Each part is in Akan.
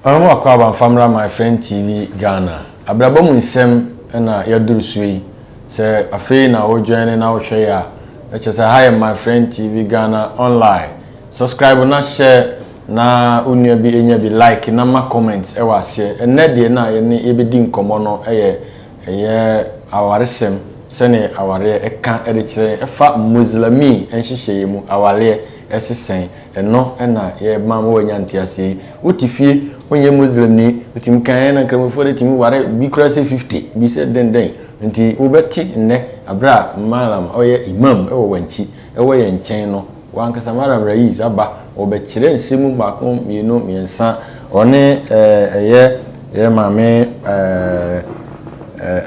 Ɔhɔho Akwaaba Mfamra My Friend TV Ghana abrabɔ mu nsɛm na yɛaduru so yi. Sɛ afei na wojoine na wohwɛ yɛ a, ɛkyerɛ sɛ ha yɛ My Friend TV Ghana online. Subscribe na hyɛ na wo nua bi nya bi, like na ma comments wɔ aseɛ. Ɛnnɛ deɛ na yɛne yɛbɛdi nkɔmmɔ no yɛ Ɛyɛ awaresɛm sɛnea awareɛ ka de kyerɛ yɛn ɛfa Muslimi nhyehyɛeɛ mu awareɛ ɛse sɛn. Ɛno na yɛma ma wanya nteaseɛ yi. Wo te fie, wo nyɛ Muslimni, ɛtumi ka yɛn na Nkramofoɔ deɛ ɛtumi ware bi koraa sɛ 50, bi sɛ dɛn dɛn. Nti wo bɛte nnɛ aberɛ a Mallam ɔyɛ Imam ɛwɔ Wankyi ɛwɔ yɛn nkyɛn no. W'ankasa Madam Raiz aba wɔ bɛkyerɛ nsɛm mu baako mmienu mmiɛnsa ɔne eh, ɛyɛ yɛn maame eh,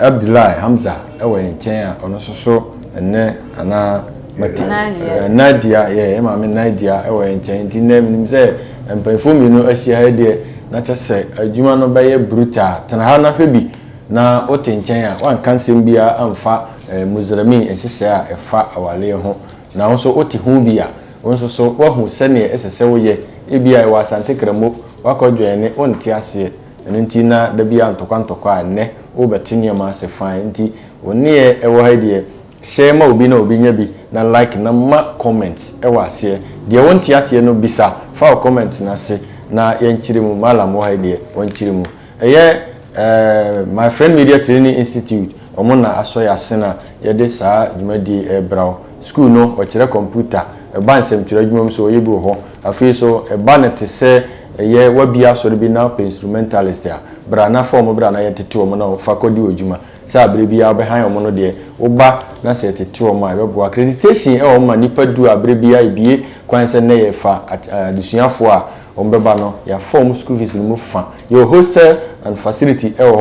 Abdulai Hamza ɛwɔ yɛn nkyɛn a ɔno nso so ɛnɛ anaa mate Nadia. eh, Nadia yɛ yɛn maame Nadia ɛwɔ yɛn nkyɛn nti nnɛ menim sɛ mpanyinfoɔ mmienu ahyia ha deɛ na kyɛ sɛ adwuma no bɛyɛ brutal tena ha na hwɛ bi na wote nkyɛn a wanka nsɛm biara amfa eh, Muzrami nhyehyɛe a ɛfa awaleɛ ho Na wo nso wote ho bi a, wo nso so woahu sɛdeɛ ɛsɛ sɛ woyɛ. Ebia yɛwɔ Asante Kramo, woakɔdwɛn ne wonte aseɛ, ɛno nti na da biara ntɔkwa ntɔkwa a ɛnnɛ worebɛte nneɛma ase fann. Enti wo nneɛ ɛwɔ ha yi deɛ, share ma obi na obi nya bi, na like na ma comment wɔ aseɛ. Deɛ wonte aseɛ no bisa, fa wo comment no ase na yɛnkyere mu. Mallam wɔ ha yi deɛ, ɔnkyere mu. Ɛyɛ My Friend Media Training Institute wɔn na asɔ yɛn asen a yɛde saa dwumadie yi rebra wo. Sukuu no, wɔkyerɛ kɔmputa, ɛba nsɛmtwerɛ adwuma mu nso wɔyɛ bi wɔ hɔ. Afei nso, ɛba no te sɛ ɛyɛ wabie asɔre bi na wopɛ instrumentalist a, bra na fa wɔn bra na yɛntete wɔn na wɔmfa kɔdi wɔ adwuma. Sɛ abere biara wobɛhan wɔn no deɛ, woba na sɛ yɛtete wɔn a, ɛbɛboa. Accreditation wɔ hɔ ma nnipa du a abere biara yɛbue kwan sɛ nnɛ yɛrefa adesuafoɔ a wɔbɛba no. Yɛafa wɔn school fees no mu fa. Yɛwɔ hostel and facility wɔ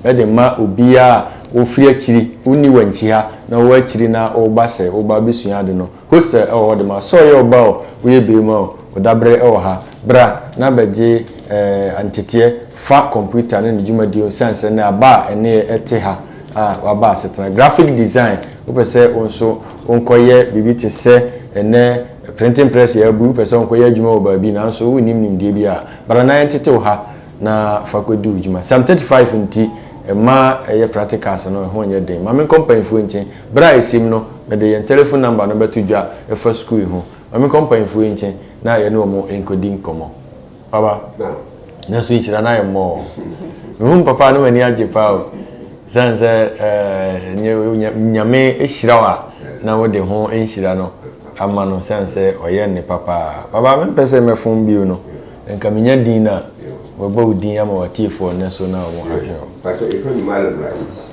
hɔ de rema obiara a ɔfiri akyiri, wonni Wankyiha na wowɔ akyiri na woreba sɛ woreba abɛsua ade no. Hostel ɛwɔ hɔ de ma sɛ ɔyɛ ɔba o woyɛ beema o ɔdabere ɛwɔ ha bra na bɛgye eh nteteɛ fa computer ne ne dwumadie ho ɛsiane sɛ nnɛ aba a ɛneɛ ɛte ha a waba asetena graphic design wopɛ sɛ wo nso wo nkɔ yɛ biribi te sɛ ɛnɛ printing press yɛ abu wopɛ sɛ wo nkɔ yɛ adwuma wɔ baabi nanso wo nnim nimdeɛ bi a bra na yɛntete wo ha na fa kɔ di wo dwuma psalm 35 nti ɛma ɛyɛ practicals no ɛho nyɛ den ma me nkɔ mpaninfoɔ nkyen Bere a esim no, mede yɛn telefon nɔmba no bɛto dwa fa sukuu yi ho. Ma menkɔ mpanyimfo yi nkyɛn na yɛne wɔn nkodi nkɔmmɔ. Papa, nanso nhyira no ayɛ mmɔɔ. Mihu me papa a, na m'ani agye paa o. Esiane sɛ ɛɛ Nyame ahyira wo a, na wode ho nhyira no ama no esiane sɛ ɔyɛ nnepa paa. Papa, mempɛ sɛ mɛfom bio no. Anka minya din no a, wɔbɛbɔ wo din ama w'atiefo ɔnnɛ so na wɔadwene wo. Pakyɛ, yɛfrɛ no Marlon Rais.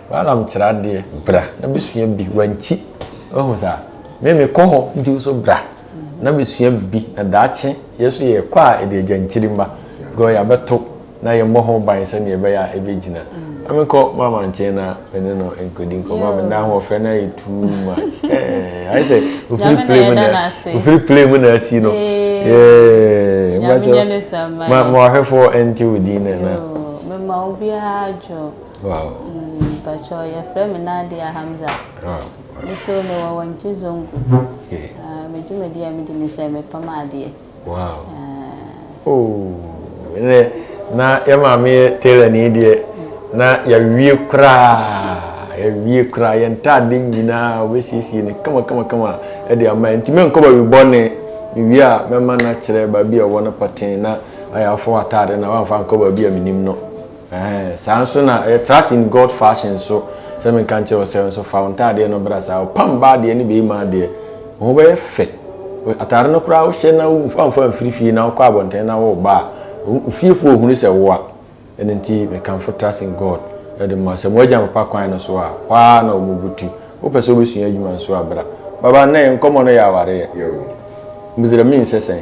Balaam kyerɛ adeɛ, bra na bɛsua bi, wankyi. Wahu saa? Me mekɔ hɔ, nti wo so bra na bɛsua bi, na daakye yɛ so yɛkɔ a ɛde agya nkyiri mma, because yɛabɛto na yɛmmɔ ho ban sɛdeɛ ɛbɛyɛ a ɛbɛgyina. Na menkɔ Mama nkyɛn na me ne no nkɔdi nkɔmmɔ, me nna ahoɔfɛ no ayɛ too much. Eh, ayɛ sɛ ofiri play mu na ofiri play mu na asi no. Yeah, mbakyɛ, ma ma wahwɛfoɔ ɛnte wo din na na. Mema obiara dwo. Wow. Mm, Pacho, your friend me Nadia Hamza. Wow. Me so me wa wanchi zongo. Okay. Uh, me juma dia me dini se me pama adie. Wow. Uh, oh, ne, na ya maame tailor ni die. Na ya wie kura. Ya wie kura ya ntade nyina we sisi ne kama kama kama. E dia ma ntime nkoba wi bone. Me wie a me ma na kire ba bi e wona patin na ayafo atade na wanfa nkoba bi a minim no. Ɛɛh, saa nso na ɛyɛ trust in God fashion nso, sɛ menka nkyerɛ wo sɛ nso fa wo ntaadeɛ no bra saa, ɔpam baa deɛ ne bɛɛmaa deɛ, wo ho bɛyɛ fɛ, ataade no koraa wo hyɛ na wo amfa amfiri fie na wo kɔ abɔntene na wo ba a, wo fiefoɔ hunu sɛ wo a, ɛno nti me kamfo trust in God de ma wo sɛ mo agya papa kwan no so a, hɔ ara na ɔmo butu, wo pɛ sɛ wo bɛ sua adwuma nso a bra, baba nnɛ yɛn nkɔmɔ no yɛ awareɛ, Mizraimni sɛ sɛn?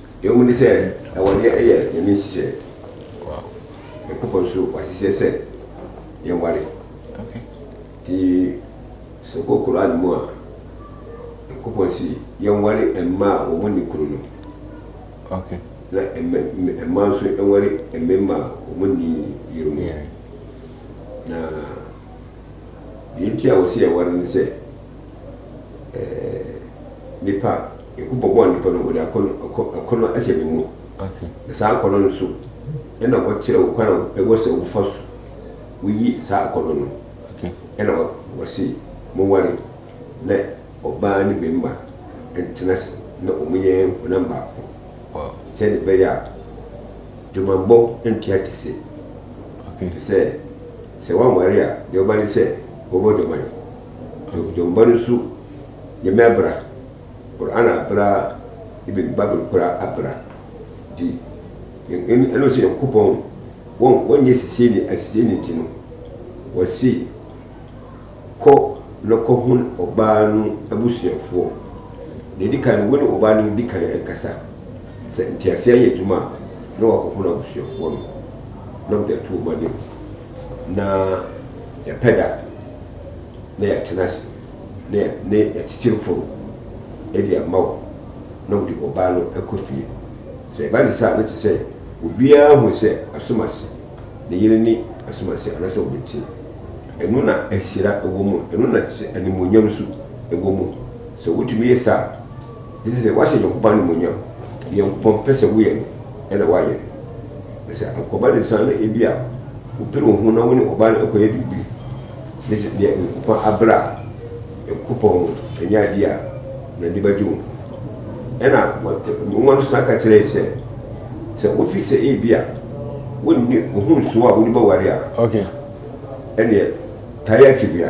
Ehu ne sɛ awareɛ yɛ Nyame nhyehyɛɛ. Nyankopɔn nso wahyehyɛ sɛ yɛnware. Nti sɛ wokɔ Qur'aan mu a, Nyankopɔn se yɛnware mmaa a wɔn nni kunu no. Na mmaa nso nware mmemma a wɔn nni yere mu. Na deɛ nti a wɔse yɛnware ne sɛ, eh, nipa Eku bɔbɔɔ nnipa no, wɔde akɔnnɔ, akɔ, akɔnnɔ ahyɛ me mu. Okay. Na saa akɔnnɔ no so, ɛna wɔkyerɛ wo kwan a ɛwɔ sɛ wofa so woyi saa akɔnnɔ no. Okay. Ɛna wɔ, wɔse, monware, na ɔbaa ne barima ntena ase, na wɔyɛ honam baako. Wow. Sɛdeɛ ɛbɛyɛ a, dwamammɔ ntua te se. Okay. Te sɛ, sɛ woanware a, deɛ ɔba ne sɛ, wɔbɔ dwaman. Okay. Dwamammɔ no nso, Nyame abra. Kor ana abera ebien bible kor abera di yɛn ɛna ɔsɛ nyankopɔn wɔn wɔn nyɛ sisei ni asisei ni nti no wɔsi kɔ na kɔ hun ɔbaa no abusuafoɔ na edi kan wo ne ɔbaa no di kan nkasa sɛ ntease ayɛ adwuma a na wakɔ hun abusuafoɔ no na wɔde ato wɔn anim na yɛpɛ da na yɛatena ase. ne ne atitiriwfo no de ama wɔn na wɔde ɔbaa no kɔ fie. Sɛ ɛba no saa a, na ɛte sɛ obiara hu sɛ asomasi, ne yere ne asomasi anaasɛ ɔbɛntin. Ɛno na ahyira wom, ɛno na ɛte sɛ animuonyam nso wom. Sɛ wotumi yɛ saa a, Ɛsɛ sɛ woahyɛ Nyankopɔn animuonyam. Nyankopɔn pɛ sɛ woyɛ no na woayɛ no. Na sɛ ankɔba ne saa no ebia wopere wo ho na wo ne ɔbaa no akɔyɛ biribi. Ne sɛ nea Nyankopɔn abrɛ a, Nyankopɔn no, ɛnyɛ adeɛ a n'ani bɛgye ho. Ɛna Nwoma no san ka kyerɛ yɛn sɛ, sɛ wofi sɛ ebia wonni wo ho nsow a wode bɛware a, ɛneɛ tae akyi bea.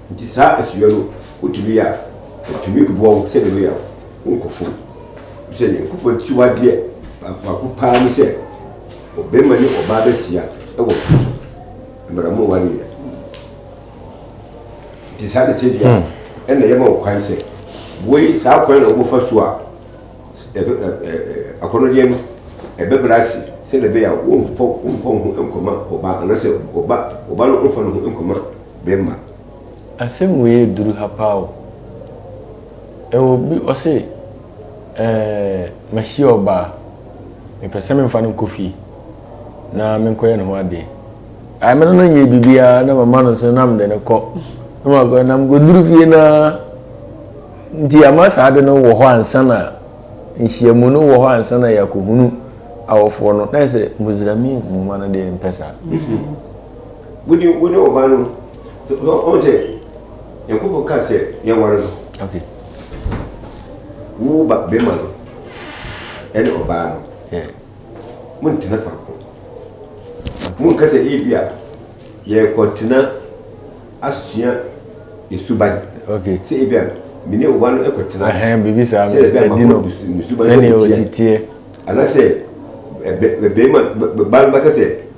Nti saa asubɛ no wotumi yɛ a, ɛtumi boa wo sɛdeɛ ɛbɛyɛ a wonkɔ fam. Ɛfiri sɛ Nyankopɔn akyiwadeɛ baako baako pa ara ne sɛ, ɔbarima ne ɔbaa bɛhyia wɔ po so, mmerɛ mowareeɛ. Nti saa ne tebea a ɛna yɛma wo kwan sɛ, woi saa kwan na wobɛfa so a akɔnɔdeɛ no ɛbɛbrɛ ase sɛdeɛ ɛbɛyɛ a wompɔ wo ho nkɔma ɔbaa anaasɛ ɔba no mfa ne ho nkɔma bɛ ma. Asɛm wei yɛ duru ha paa o. Ɛwɔ bi ɔse ɛɛ mahyia ɔbaa mepɛ sɛ menfa no nkɔ fie na menkɔyɛ ne ho adeɛ. Ae me ne no nyɛ biribiaa na mama no nso na mede no kɔ na makɔ na mekɔduru fie no ara nti ama saa ade no wɔ hɔ ansa na nhyiamu no wɔ hɔ ansa na yɛakɔhunu awɔfoɔ no na ayɛ sɛ Muzramin nwoma no deɛ mempɛ saa. Wode wode wo ba no ɔn sɛ Nyankopɔn ka sɛ yɛware no. Okay. Wo ba bɛma no ɛne ɔbaa no. Yeah. Mo ntena faako. Mo nka sɛ ebi a yɛ kɔntena asua esuban. Okay. Sɛ ebi a mene ɔba no ɛkɔtena. Ɛhɛn bibi saa mi sɛ di no sɛnea osi tie. Anasɛ ɛbɛ ɛbɛrima ba no bɛka sɛ.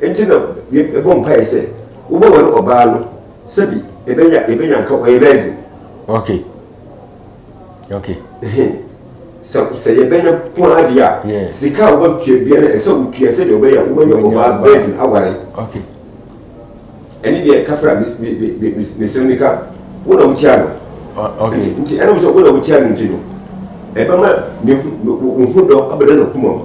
Enti na yɛbɔ mpaeɛ sɛ wobɛware ɔbaa no sɛbi ɛbɛnya ɛbɛnya nka ɔyɛ virgin. Okay. Okay. sɛ sɛ yɛbɛnya ko ara deɛ a sika a wobɛtua bia no ɛsɛ wotua sɛdeɛ wobɛyɛ wobɛyɛ ɔbaa virgin aware. Okay. Ɛne deɛ kafra mesɛm ne ka wo na wotia no. Okay. Nti ɛnam sɛ wo na wotia no nti no ɛbɛma wo ho dɔ abɛdɛ no koma mu.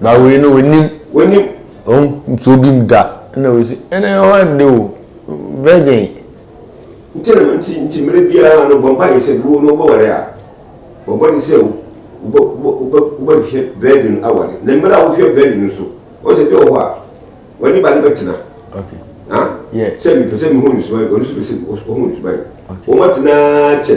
Na wei no wɔnim. Wɔnim. Wɔn nsuo bi mu da. Ɛna wei si ɛna ɛhɔ ade o virgin. Nti na nti nti mmerɛ biara no bɔ mpa yɛ sɛ wo no wobɛware a bɔ mmɔden sɛ wobɛhwɛ virgin aware na mmerɛ a wohwɛ virgin no so wɔn sɛ bi wɔ hɔ a wɔne ba no bɛtena. Okay. Sɛ mepɛ sɛ mehu ne suban wɔn nso pɛ sɛ wɔhu ne suban wɔn atena kyɛ.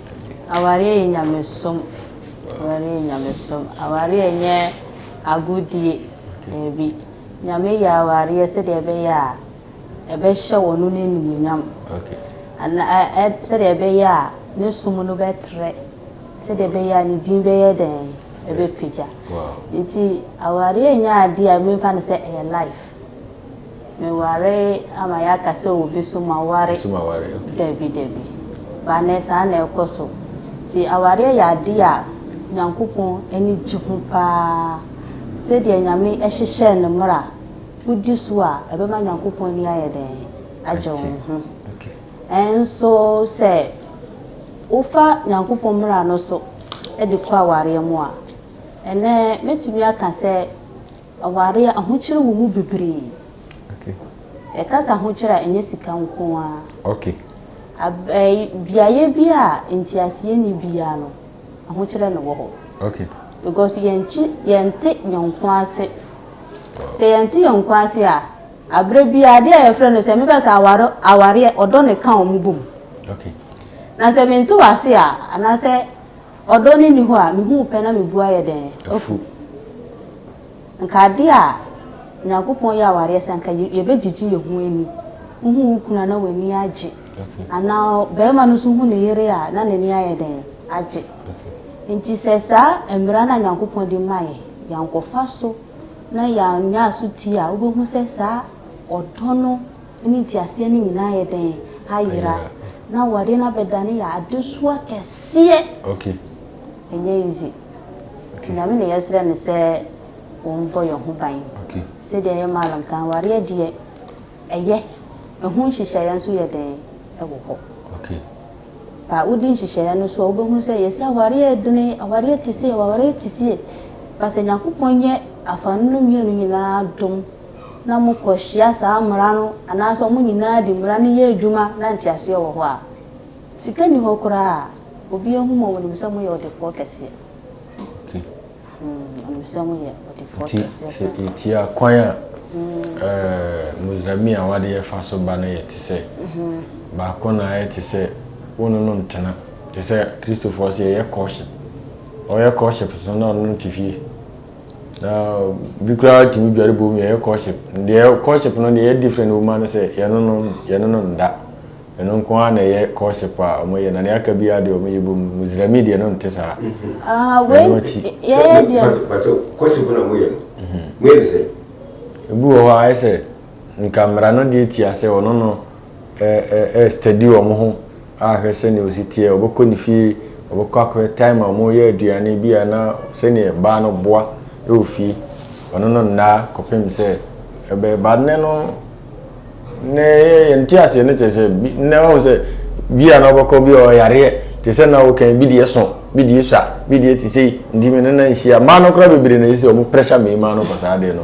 Awareɛ yɛ nyamesom awareɛ yɛ nyamesom awareɛ nyɛ agodie daabi nyame yɛ awareɛ sɛdeɛ ɛbɛyɛ a ɛbɛhyɛ wɔ no no animuonyam ana sɛdeɛ ɛbɛyɛ a ne som no bɛtrɛ sɛdeɛ ɛbɛyɛ a ne din bɛyɛ dɛn ɛbɛpagya nti awareɛ nyɛ adeɛ a memfa no sɛ ɛyɛ life Meware ama yɛaka sɛ obi so ma ware. So ma ware, ok. Dabi, dabi. Ba nɛ saa na ɛkɔ so. Nti awareɛ yɛ adeɛ a Nyankopɔn ani gye ho paa. Sɛdeɛ Nyame hyehyɛɛ no mmra, wo di so a, ɛbɛma Nyankopɔn ani ayɛ dɛn? Agye wo ho. Nso sɛ wo fa Nyankopɔn mmra no so de kɔ awareɛ mu a, ɛnɛ mɛtumi aka sɛ, Aware a ahokyere wɔ mu bebree. Yɛka sɛ ahokyere a, ɛnyɛ sika nko ara. Beaeɛ bi a nteaseɛ nni biara no, ahokyerɛ na ɛwɔ hɔ. Because yɛnte yɔnko ase. Sɛ yɛnte yɔnko ase a, aberɛ biara adeɛ a yɛfrɛ no sɛ mebɛka sɛ awareɛ ɔdɔ na ɛka wɔn bɔ mu. Na sɛ mente wo ase a, anaasɛ Ɔdɔ no nni hɔ a, mehu wo pɛ na me bo ayɛ dɛn? Afu. Anka adeɛ a Nyankopɔn yɛ awareɛ sɛ anka yɛbɛgyegye yɛn ho ani. Wohu wo kunu a na w'ani agye. Anaa barima no nso hu ne yere a na n'ani ayɛ dɛn? Agye. Nti sɛ saa mmara no a Nyankopɔn de ma yɛ, yɛankɔfa so na yɛannya asotie a, wobɛhu sɛ saa ɔdɔ no, ne nteaseɛ no nyinaa ayɛ dɛn? Ayera. Na awadeɛ no abɛdane yɛ adesoa kɛseɛ. Okay. Ɛnyɛ easy. Nti Nyame na yɛsrɛ no sɛ ɔmbɔ yɛn ho ban. Okay. Sɛdeɛ ɛyɛ Mallam kan, awareɛ deɛ ɛyɛ, ɛho nhyehyɛeɛ nso yɛ dɛn? Ɛwɔ hɔ. Okay. Ba wodi nhyehyɛeɛ no so a, wobɛhunu sɛ yɛse awareɛ yɛ dene, awareɛ te sei, awareɛ te sie. Ba sɛ Nyankopɔn nyɛ afa no mmienu nyinaa adom, na mokɔhyia saa mmara no anaasɛ wɔn nyinaa de mmara no yɛ adwuma na nteaseɛ wɔ hɔ a, sika nni hɔ koraa a, obiara hu mo, wɔnim sɛ moyɛ ɔdefoɔ kɛseɛ. Okay. Mm, wɔnim sɛ moyɛ ɔdefoɔ Nti kɛseɛ sɛ paa. yɛtia kwan a ɛɛ Muzlami a w'adeɛ fa so ba no yɛ te sɛ baako na ayɛ te sɛ wo no no ntena te sɛ Kristofoɔ sɛ yɛyɛ courtship. Ɔyɛ courtship so na ɔno no te fie. Na bi koraa tumi dware bom yɛyɛ courtship. Deɛ courtship no deɛ ɛyɛ different wɔ mu ano sɛ yɛne no yɛne no nda. Ɛno nko ara na ɛyɛ courtship a wɔyɛ na nea aka bi ara deɛ wɔyɛ bom. Mizrami deɛ no nte saa. Ah, wei Ɛno akyi. yɛyɛ deɛ Bato, bato, courtship na moyɛ no. Moyɛ no sɛ? Ebi wɔ hɔ a ayɛ sɛ nka mmara no deɛ tia sɛ ɔno no ɛ ɛ ɛ study wɔn ho ahwɛ sɛnea osi teɛ ɔbɛkɔ ne fie ɔbɛkɔ akɔhwɛ time a wɔyɛ aduane bi a na sɛnea baa no boa ɛwɔ fie ɔno no nnaa kɔpem sɛ ɛbɛyɛ ba nnɛ no nnɛ yɛ yɛn te aseɛ no kyerɛ sɛ bi nnɛ wɔn sɛ bi a na ɔbɛkɔ bi a ɔyareɛ te sɛ na ɔkɛn bi deɛ so bi deɛ sua bi deɛ te sɛ ntumi no na nhyia mmaa no kora bebree na ɛsɛ wɔn pressure mmarima no kɔ saa deɛ no.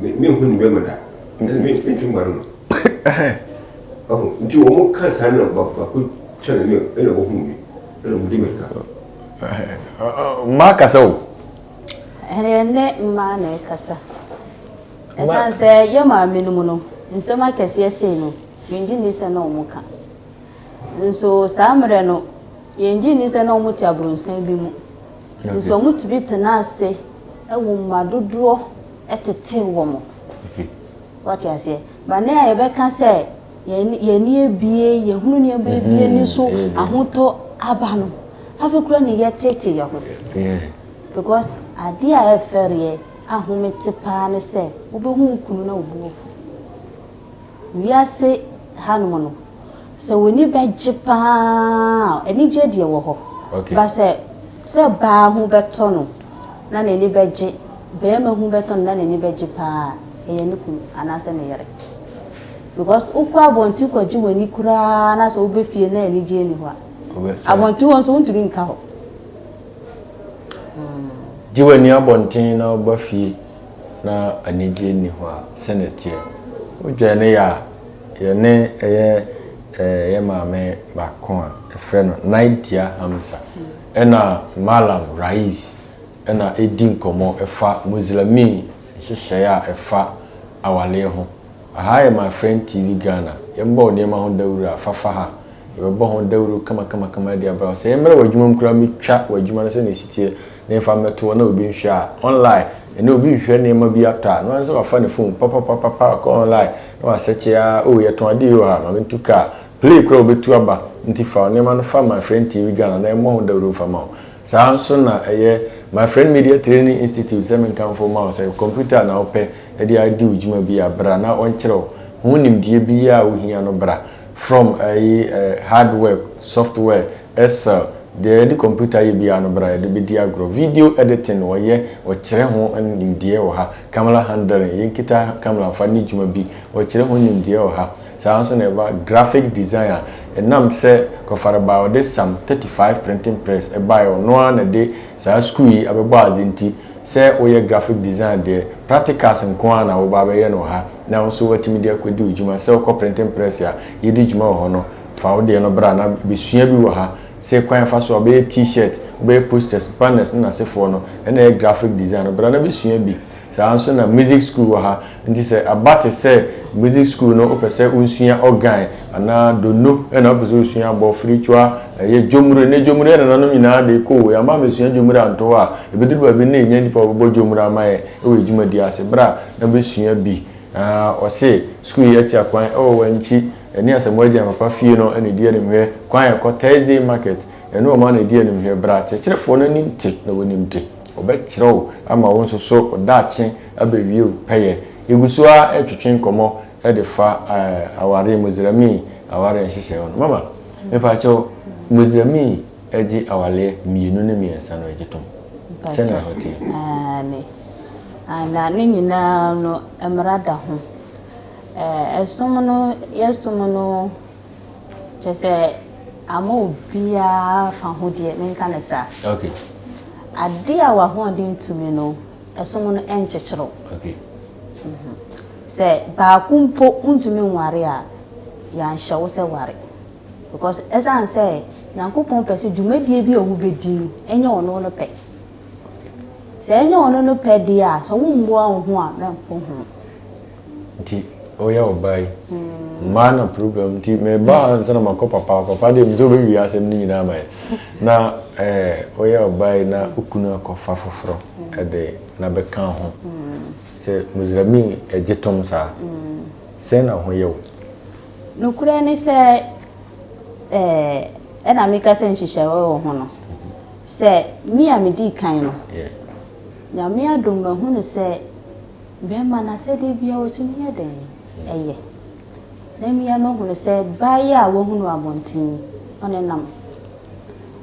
me me hu ne bɛma da ɛna me me ntwe mma no no ɔho nti wɔn mo ka saa na ba baako kyɛ na me ɛna wɔn hu me ɛna wɔn di mɛka. mmaa kasa o. ɛyɛ ne mmaa na ɛkasa ɛsan sɛ yɛ maame no mu no nsɛm akɛseɛ sei no yɛngye nni sɛ na wɔn ka nso saa mmerɛ no yɛngye nni sɛ na wɔn te abrɔnsan bi mu. Nanso wɔtumi tena ase wɔ mma dodoɔ tete wɔn. Wate aseɛ? Ba nnɛ a yɛbɛka sɛ yɛn ani abie, yɛhunu nneɛma bi abie ni so, ahotɔ aba no, afei koraa na yɛtete yɛn ho. Because adeɛ a ɛfɛreɛ a home te paa ne sɛ wobɛhu wo kunu na wo bo afu. Wiase hanom no, sɛ w'ani bɛgye pa ara a, anigyeɛ deɛ ɛwɔ hɔ. But sɛ sɛ baa ho bɛtɔ no na n'ani bɛgye, barima ho bɛtɔ no na n'ani bɛgye pa ara a, ɛyɛ ne kunu anaasɛ ne yere. Because wokɔ abɔnten kɔgye w'ani koraa na sɛ wobɛ fie na anigyeɛ nni hɔ a, abɔnten hɔ nso wontumi nka hɔ. Gye w'ani abɔnten na woba fie. Na anigye nni hɔ a, sɛnea ɛteɛ. Wodwɛn no yɛ a, yɛne ɛyɛ eh, yɛ maame baako a yɛfrɛ no Naidia Hamza ɛna Mallam Rais ɛna ɛredi nkɔmmɔ ɛfa Muslimii nhyehyɛeɛ a ɛfa awaleɛ ho Aha yɛ my friend TV Ghana, yɛmmɔ wo nneɛma ho dawuru a, fa fa ha. Yɛbɛbɔ ho dawuru kamakamakama de abra wo. Sɛ yɛmmra w'adwuma mu koraa a, metwa w'adwuma no sɛnea ɛsi teɛ na yɛmfa mmɛto hɔ na obi nhwɛ a, online, ɛnnɛ obi rehwehwɛ nneɛma bi atɔ a, noara ne sɛ wafa ne phone papapapapa akɔ online na wasɛkye ara, oh, yɛtɔn ade yoo ha, ma mentu kaa, play koraa wobɛtu aba, nti fa wo nneɛma no fa my friend TV Ghana na yɛmmɔ ho dawuru mfa ma wo. Saa ara nso na ɛyɛ my friend Media Training Institute, sɛ menkamfo mma wo sɛ computer na wopɛ, de adi wo dwuma bi a, bra na ɔnkyerɛ wo. Ho nimdeɛ biara a wohia no bra. From ɛyi ɛ, hardware, software, Excel, deɛ yɛde kɔmputa yɛ biara no bra yɛde bɛdi agorɔ. Video editing wɔyɛ, wɔkyerɛ ho nimdeɛ wɔ ha. Camera handling, yɛnkita camera mfa nni dwuma bi, wɔkyerɛ ho nimdeɛ wɔ ha. Saa ara nso na ɛba graphic design a, ɛnam sɛ Kɔfara baa ɔde Sam 35 printing press baeɛ, ɔno ara na ɛde saa sukuu yi abɛbɔ adze nti, Sɛ woyɛ graphic design deɛ, practicals nko ara na woba abɛyɛ no wɔ ha, na wo nso woatumi de akɔdi wo dwuma. Sɛ wokɔ printing press a yɛdi dwuma wɔ hɔ no, fa wo deɛ no bra na bɛsua bi wɔ ha. Se kwan a yɛfa so a wobɛyɛ T-shirt, wobɛyɛ posters, banners ne asefoɔ no, ɛna ɛyɛ graphic design no, bra na bɛsua bi. Saa ara nso na music school wɔ ha. Ntsi sɛ aba tse sɛ music skuul no wopɛ sɛ wonsua organ anaa dono na wopɛ sɛ wosua abɔ fritwa, yɛ dwomur, ndɛ dwomur yɛ nananom nyinaa dee koo, yɛ amma amesua dwomur annto hɔ a, ebedur baabi no na ennya nyimpa a wɔbɔbɔ dwomur ama yɛ wɔ edwumadie ase, bra na besua bi. Aah wɔse skuul yi atsia kwan wɔ hɔ a ntsi ɛne Asamoah Agyan papa fie no na edi animhwɛ, kwan a ɛkɔ Thursday market, ɛno wɔn na edi animhwɛ, bra kyerɛkyerɛfoɔ no anim te na wɔnim te, wɔbɛkyerɛ wo ama wo nso so wo daakye Abɛwie o, pɛyɛ. Yɛgu so ara retwetwe nkɔmmɔ de fa aware, Muslimni aware nhyehyɛe ho no. Mama, mepa kyɛw, Muslimni gye awaleɛ mmienu ne mmiɛnsa no gye tom? Sɛ na ɛhɔ teɛ? Aane. Na ne nyinaa no mmara da ho. Ɛsom no, yɛsom no, kyerɛ sɛ ama obiara fa ho deɛ, menka no saa. Okay. Adeɛ a w'ahoɔden tumi no, ɛsom no nkyekyere wo. Sɛ baako mpo ntumi nware a, yɛanhyɛ wo sɛ ware. Because ɛsiane sɛ Nyankopɔn pɛ sɛ dwumadie bi a wobɛdi no, ɛnyɛ ɔno no pɛ. Sɛ ɛnyɛ ɔno no pɛ deɛ a, sɛ wommoa wo ho a, mɛnkɔ ho. nti woyɛ ɔbaa yi mmaa na problem nti meba ha nsa na makɔ papa papa deɛ mesɛ wobɛwie asɛm no nyinaa ma yɛ na eh, woyɛ ɔbaa yi na wokunu akɔfa foforɔ ɛde na bɛka ho sɛ musrami ɛgye tom saa sɛn na ho yɛ wo nokorɛ ne sɛ eh, ɛna meka sɛ nhyehyɛeɛ wɔ ho no sɛ me a medii kan no nyame adom mahunu sɛ Bɛrima no asɛdeɛ biara ɔtumi yɛ dɛn? Ɛyɛ. Na mmea no hunu sɛ baa yi a wahunu abɔnten yi, ɔne nam.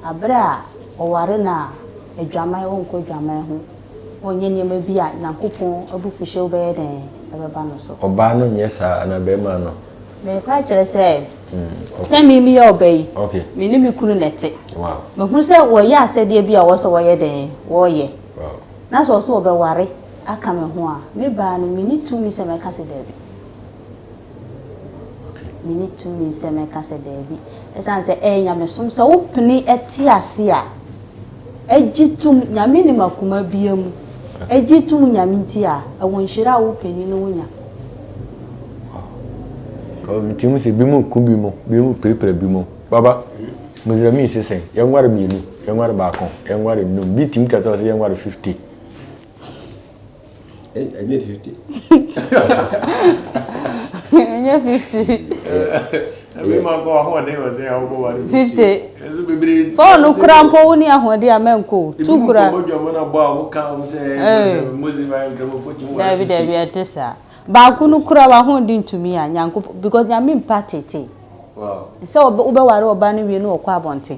Aberɛ a ɔware no a, adwaman ɔnkɔ adwaman ho, ɔnyɛ nneɛma bi a Nyankopɔn abufuhyew bɛyɛ dɛn? Ɛbɛba no so. Ɔbaa no nyɛ saa anaa bɛrima no? Mereka akyerɛ sɛ, sɛ me meyɛ ɔbaa yi, me ne me kunu na ɛte. Mahunu sɛ wɔyɛ asɛdeɛ bi a wɔsɛ wɔyɛ dɛn? Wɔyɛ. Na sɛ ɔsɛ ɔbɛware aka me ho a, me baa no, menni tumi sɛ mɛka sɛ dabi. Menni tumi sɛ mɛka sɛ dabi, ɛsiane sɛ ɛyɛ nyamesom. Sɛ wopene te ase a, gye tom Nyame nim akoma biara mu, gye tom Nyame nti a, ɛwɔ nhyira a wo panin no wonya. Wow. Nti mu sɛ bi mu ku bi mu, bi mu pirepire bi mu. Baba, Muslimin sesɛn, yɛnware mmienu, yɛnware baako, yɛnware nnum, bi tim kasa ɔsɛ yɛnware 50. ɛnyɛ fifty. ɛnyɛ fifty. ɛmi ma kɔ ahoɔden wɔ sɛ ɔbɔ wa ni fifty. ɛnso bebree. fɔɔnu kura mpo wo ni ahoɔden a mɛn ko tu kura. ebi mu kɔmɔ jɔmɔ na bɔ a wɔn kan wɔn sɛ ɛɛ mozi ma nkɛmɛ fo ti mu wa fifty. dabi dabi ɛte saa baako no kura wa ahoɔden tumi a nyanko because nyame mpa tete. sɛ wobɛware ɔba no wie na ɔkɔ abɔnten.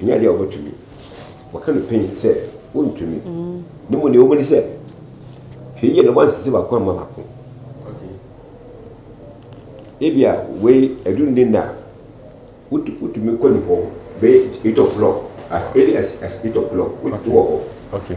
Ɛnyɛ adeɛ a wɔbɛtumi. Wɔka no pɛn sɛ wontumi. Ne mu deɛ wɔbɛni sɛ hwɛ yie na wɔansisi baako amma baako. Ebi a wei aduru ne nna a wotumi kɔ ne hɔ bɛyɛ eight o'clock as early as as eight o'clock wotumi wɔ hɔ.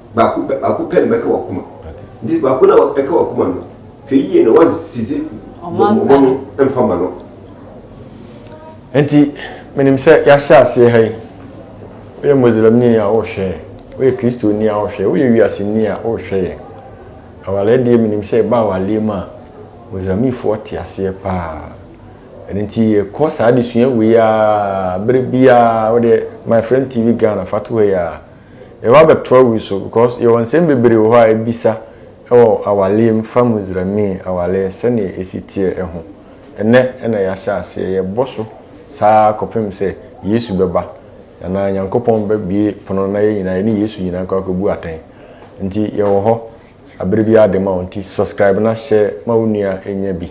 baako pɛ, baako pɛ na bɛka w'akoma. Nti baako no a ɛka w'akoma no, hwɛ yie na woansisi mmɔmmɔ no mfa ma no. Nti menim sɛ yɛahyɛ aseɛ ha yi, woyɛ Muslimni a wohwɛ yɛn, woyɛ Kristoni a wohwɛ yɛn, woyɛ wiaseni a wohwɛ yɛn. Awaleɛ deɛ menim sɛ ɛba awaleɛ mu a, Muslimifoɔ te aseɛ pa ara. Ɛno nti yɛkɔ saa adesua wei ara berɛ biara, wodeɛ my friend TV Ghana fa to hɔ yi ara. Yɛwɔ abatoɔ wi so because yɛwɔ nsɛm bebree wɔ hɔ a yɛbisa wɔ awaleɛ mu fa Muzrami awaleɛ sɛdeɛ ɛsi teɛ ho. Ɛnnɛ na yɛahyɛ aseɛ, yɛbɔ so saa ara kɔpem sɛ Yesu bɛba anaa Nyankopɔn bɛbue pono na yɛn nyinaa yɛne Yesu nyinaa nkɔ akɔbu atɛn. Nti yɛwɔ hɔ aberɛ biara de ma wo nti subscribe na hyɛ ma wo nua nya bi.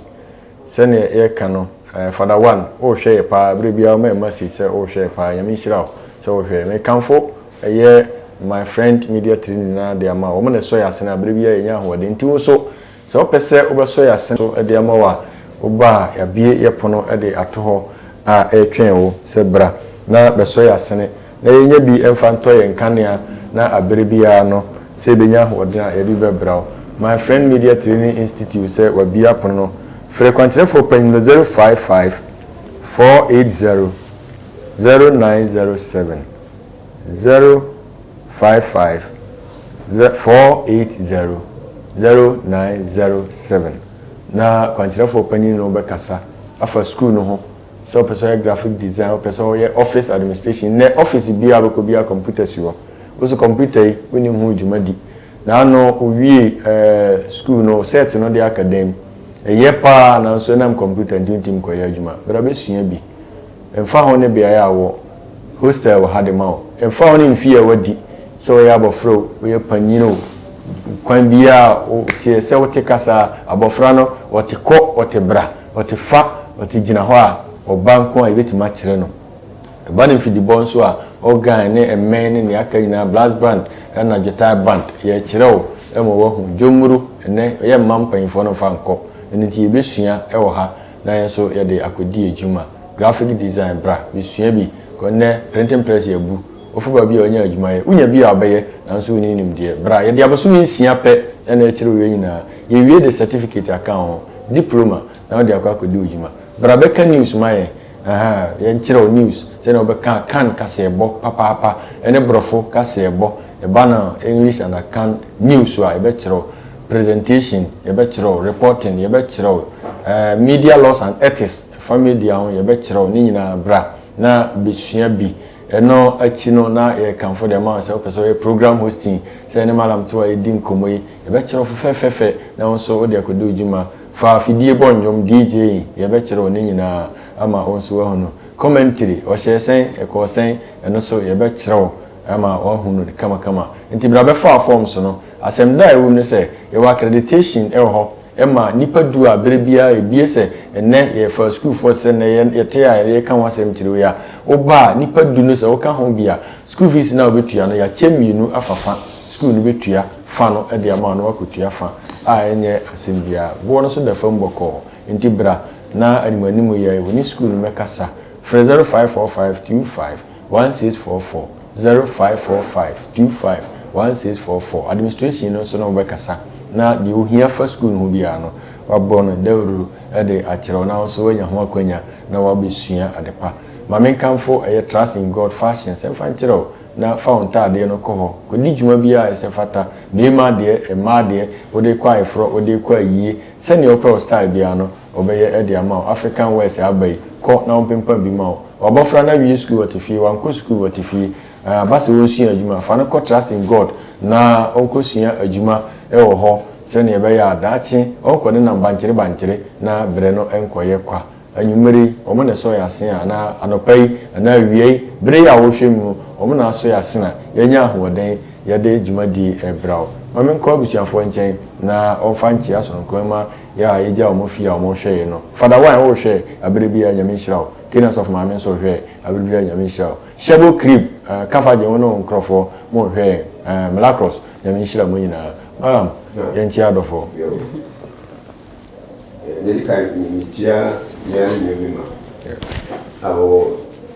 Sɛdeɛ yɛka no eh Father One wohwɛ yɛ paa berɛ biara woma yɛn message sɛ wohwɛ yɛ paa Nyame nhyira wo sɛ wohwɛ Mekamfo ɛyɛ my friend media team nyinaa de ama wo wɔn na ɛsɔ yɛn asene a berɛ biara yɛnya ahoɔden nti wo nso sɛ wopɛ sɛ wobɛsɔ yɛn asene so de ama wo a woba a yɛabue yɛ pono de ato hɔ a ɛretwɛn wo sɛ bra na bɛsɔ yɛn asene na yɛnnya bi mfa ntɔ yɛn nkanea na abere biara no sɛ yɛbɛnya ahoɔden a yɛde bɛbraw. My Friend Media Training Institute sɛ wɔabia pono no. Frɛ kwankyerɛfoɔ panyin no 055 480 0907, 055 480 0907, na kwankyerɛfoɔ panyin no bɛkasa afa sukuu no ho. Sɛ wopɛ sɛ ɔyɛ graphic design, wopɛ sɛ ɔyɛ office administration, nnɛ office biara a wobɛkɔ biara computer si hɔ. Wo nso computer yi wonim ho dwuma di. Na ano wowiee ɛɛ school no, wo cert no de aka dan mu. Ɛyɛ pa ara nanso ɛnam computer nti wontumi nkɔyɛ adwuma. Bra bɛsua bi. Ɛmfa ho ne beaeɛ a wowɔ, hostel wɔ ha de ma wo. Ɛmfa ho ne mfeɛ a woadi, sɛ woyɛ abɔfra o, woyɛ panyin o, kwan biara a woteɛ, sɛ wote kasa a, abɔfra no ɔte kɔ, ɔte bra. Ɔte fa, ɔte gyina hɔ a, ɔba nko a yɛbɛtumi akyerɛ no. Ɛba no mfidibɔ nso a, organ ne mmɛn ne nea aka nyinaa, brass band na dwetae band, yɛrekyerɛ wo ma woahu. Dwonmuru, ɛnnɛ yɛmma mpanimfoɔ no mfa nkɔ, ɛno nti yɛbɛsua wɔ ha na yɛn nso yɛde akɔdi adwuma. Graphic design, bra bɛsua bi, kɔ nnɛ printing press yɛabu. Ɔfoba bi a ɔnnya adwuma yɛ. Wonya bi a ɔbɛyɛ, nanso wonni nimdeɛ. Bra, yɛde abosome nsia pɛ na ɛkyerɛ owie nyinaa. Yɛwie de sɛtifikate aka wo ho, diploma, na wode akɔ akɔdi wo dwuma. Bra bɛka news ma yɛn, ahaa, yɛnkyerɛ wo news sɛnea wobɛka Akan kaseɛbɔ papaapa ne Borɔfo kaseɛbɔ. Ɛba no English and Akan news so a, yɛbɛkyerɛ wo. Presentation, yɛbɛkyerɛ wo. Reporting, yɛbɛkyerɛ wo. Ɛɛ, media laws and ethics, ɛfa media ho, yɛbɛkyerɛ wo. Ne nyinaa, bra na bɛsua bi. Ɛno akyi no, na yɛkamfo dɛm a sɛ wopɛ sɛ ɔyɛ program hosting, sɛ yɛne Mallam to a yɛdi nkɔmmɔ yi, yɛbɛkyerɛ wo fɛfɛɛfɛfɛ na wo nso wode akɔdi wo dwuma. Fa afidie bɔ nnwom, DJing, yɛbɛkyerɛ wo ne nyinaa ama wo nso woahunu. Commentary, ɔhyɛɛ sɛn, ɛkɔɔ sɛn, ɛno nso yɛbɛkyerɛ wo ama woahunu no kamakama. Enti bra bɛfa forms no. Asɛmda a ɛwom ne sɛ, yɛwɔ accreditation wɔ hɔ. ɛma nnipa du a berɛ biara ɛbue sɛ ɛnnɛ yɛfa sukuufoɔ te sɛ nnɛ yɛte a yɛka ho asɛm tire wei a, woba a nnipa du no sɛ woka ho bi a, sukuu fees no a wobɛtua no yɛakyɛ mmienu afa fa, sukuu no bɛtua fa no de ama wo na woakɔtua fa a ɛnyɛ asɛm biara. Boɔ no so da fam bɔkɔɔ nti bra na anim anim yɛn wo ne sukuu no mmɛkasa. Frɛ 0545 25. one six four four zero five four five two five one six four four Administration no nso ne wo bɛkasa na deɛ ohia fa sukuu no ho biara no wabɔ no dawuru de akyerɛ wo na wo nso woanya ho akwanya na woabɛsua ade pa. Ma menkamfo ɛyɛ Trust in God Fashions mfa nkyerɛ wo na fa wo ntaadeɛ no kɔ hɔ kɔdi dwuma biara a ɛsɛ fata, mmarima deɛ, mmaa deɛ, wode rekɔ ayeforɔ, wode rekɔ ayie, sɛdeɛ wopɛ wo style biara no, Wɔbɛyɛ de ama wo. African West a aba yi, kɔ na wɔmpempa bi ma wo. W'abɔfra no awie sukuu ɔte fie, wankɔ sukuu ɔte fie. Ɛɛ, aba sɛ ɔresua adwuma a, fa no kɔ Trust in God na ɔnkɔsua adwuma wɔ hɔ sɛdeɛ ɛbɛyɛ a daakye ɔrenkɔ ne nam bankyere bankyere na berɛ no nkɔyɛ kwa. Anwummerɛ yi, wɔn na ɛsɔ yɛn asene anaa anɔpa yi anaa awia yi, berɛ yi a wɔrehwɛ mu no, wɔn na asɔ yɛn asene a yɛanya ahoɔden yɛde dwumadie rebra wo. Ma menkɔ abusuafoɔ nkyɛn na wɔmfa nkyea sononko mma Yɛ a yɛgyaa ɔmo fie a ɔmo hwɛɛe no. Fada Wine wo hwɛ abere biaa Nyame nhyira wo. Kane Asɔfo Maame nso hwɛ abere biaa Nyame nhyira wo. Shebo Crib eh Kafagye wo ne wo nkorɔfoɔ mo hwɛ yɛn eh Mlacross Nyame nhyira mo nyinaa. Malam yɛn kyia adɔfoɔ. Yɛwo eh Medikan me kyia mea ne me mema a wɔwɔ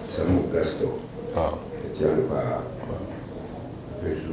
Samu Drugstore me kyia no paa. Afei nso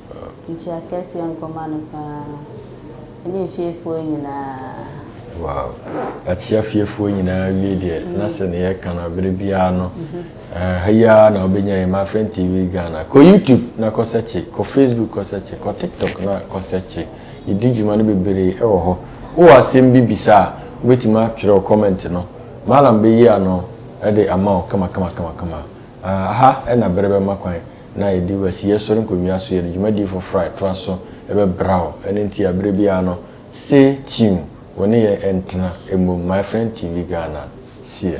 Nkyii akɛseɛ nkɔma no paa ne nfiefoɔ nyinaa. Wow. Akyia fiefoɔ nyinaa wie deɛ na sɛ ne yɛka no abere biara no ha yi ara na wobɛnya yɛ Mafin TV Ghana. Kɔ YouTube na kɔ sɛkye, kɔ Facebook kɔ sɛkye, kɔ TikTok na kɔ sɛkye. Yɛdi dwuma no bebree wɔ hɔ. Wowɔ asɛm bi bisa a, wobɛtumi atwerɛ wo comment no. Mallam bɛyi ano de ama wo kama kama kama kama. Aha na berɛ bɛma kwan. na yɛde wasiyɛ sɔre nkonnwa so yɛ no dwumadi foforo a ɛtoa so bɛbra wo. Ɛno nti a bere biara no stay tune, wo ne yɛn ntena mmom, My Friend TV Ghana seɛ.